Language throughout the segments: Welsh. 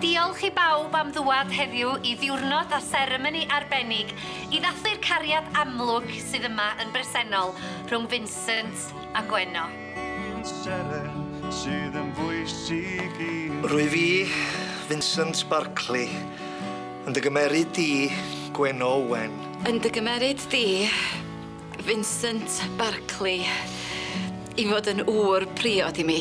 Diolch i bawb am ddŵad heddiw i ddiwrnod a seremoni arbennig i ddathlu'r cariad amlwg sydd yma yn bresennol rhwng Vincent a Gwenno. Rwyf i, Vincent Barclay, yn dy gymeryd di, Gwenno Owen. Yn dy gymeryd di, Vincent Barclay i fod yn ŵr priod i mi.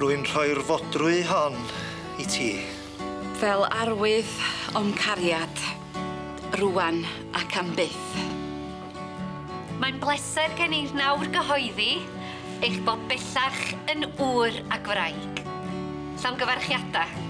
Rwy'n rhoi'r fodrwy hon i ti. Fel arwydd o'm cariad, rŵan ac am byth. Mae'n bleser gen i nawr gyhoeddi eich bod bellach yn ŵr ac wraig. Llongyfarchiadau.